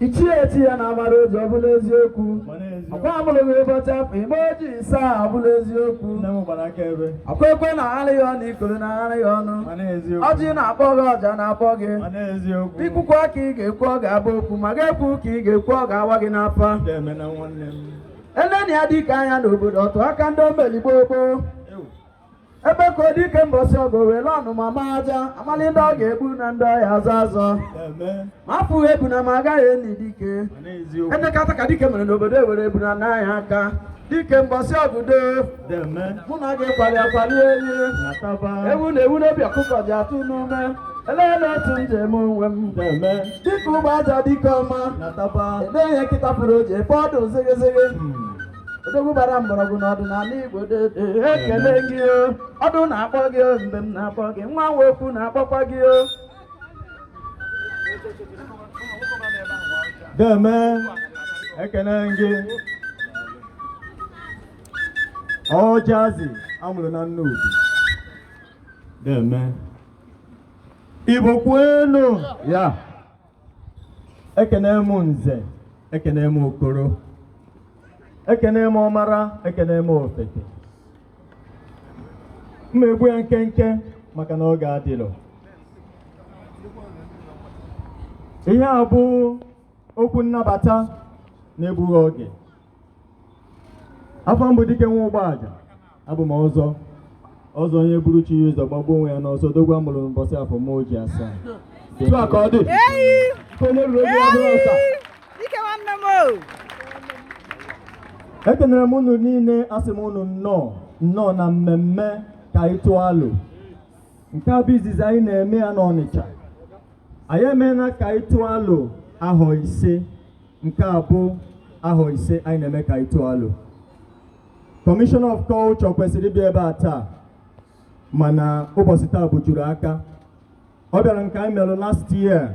ichie echi ya na amara oji ọ bụla eziokwu ọkwa amụrụ gị ụbọchị afọ ime oji asaa abụla eziokwu ọkwa ekwe na agharị ya ọnụ ikoro na agharị ya ọnụ ọjị na-akpọ gị ọja na-akpọ gị ikwukwa ka ị ga-ekwu ọ ga-abụ okwu ma ga-ekwu ka ị ga-ekwu ọ ga-awa gị n'afa eleni ya dike anya n'obodo ọtụ aka ndị o meli gboo gboo ebekuo dike mbọsị ọgụ were ọnụma ma aja amalị ndị ọ ga-egbu na ndị ọ ya-azọ azọ ma afụghị ebuna ma agaghị eni dike edekata ka dike mere n'obodo ewere ebuna naa ya aka dike mbọsị ọgụ do mụ na gị kwali akwali enyi ewu na ewu n'obi ọkụkọ ji atụ n'ume eleele otu njem onwe m dike ugbaja dike ọma edeghị nkịta pụrụ oji ebe ọdụ zịgịzịgị odogwu gbara mgbọrọgwụ na ọdịnala igbo dede ekene gị o ọdụ na-akpọ gị o mbem na-akpọ gị nwa nwa okwu na-akpọkwa gị o deme ekene gị ọjazi amụrụ na nnobi deme igbo kwenu ya ekene m nze ekene m okoro ekene m ọmara ekene m ofeke m ma egbu ya nkenke maka na oge adịlọ ihe a bụ okwu nnabata n'egbughị oge afa m bụ dike nwa ugbaja abụ m ọzọ ọzọ onye buru chi ya ụzọ gbagbuo onwe ya n'ọsọ odogwu amụrụ mbọsị afọ m oji asaa ekenere m unu niile asị m unu nnọọ nnọọ na mmemme ka anyị tụọ alo nke a bụ izizi anyị na-eme ya n'Ọnịcha anyị emeela ka anyị tụọ alo ahọ ise Nke a bụ ahọ isii anyị na-eme ka anyị tụọ alo. Kọmishọna of Culture kwesịrị ịbịa ebe a taa mana ụbọchị taa bujuru aka. Ọ bịara nke anyị mere last year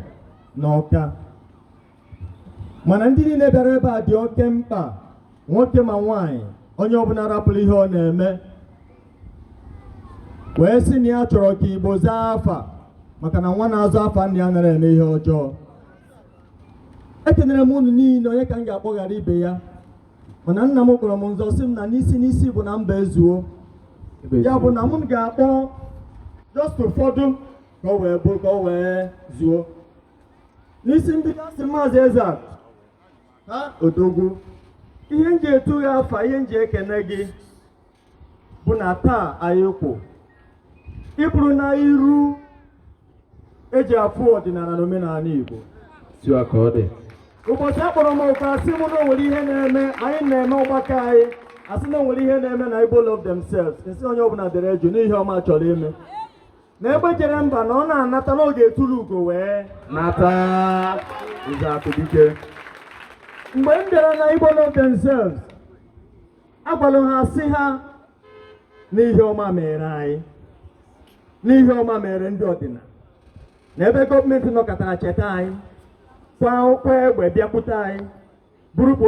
na Ọka. Mana ndị niile bịara ebe a dị oke mkpa nwoke ma nwaanyị onye ọbụla rapụrụ ihe ọ na-eme wee sị na ya chọrọ ka Igbo zaa afa maka na nwa na-aza afa nna ya anara eme ihe ọjọọ ekenere m unu niile onye ka m ga-akpọ ghara ibe ya mana nna m kpọrọ m nzọ sị m na n'isi n'isi bụ na mba ezuo ya bụ na m ga-akpọ just ụfọdụ ka o wee bụrụ ka o wee zuo n'isi mbido asị maazị eze a ha odogwu ihe m ji etu gị afa ihe m ji ekene gị bụ na taa anyị kwụ ịbụrụ na iru eji afụ ọdịnala na omenala Igbo tiwa ka ọ dị ụbọchị akpọrọ m oku asị m na o nwere ihe na-eme anyị na-eme ọgbakọ anyị asị na o nwere ihe na-eme na Igbo love themselves m sị onye ọbụla dere jụụ n'ihe ọma chọrọ ime na egbe jere mba na ọ na-anata n'oge etulu ugo wee nata nze akụdike mgbe m bịara na Igbo love themselves agwalụ ha sị ha n'ihe ọma mere anyị n'ihe ọma mere ndị ọdịnala na ebe gọọmenti nọkatara cheta anyị kwa egbe bịakwute anyị bụrụ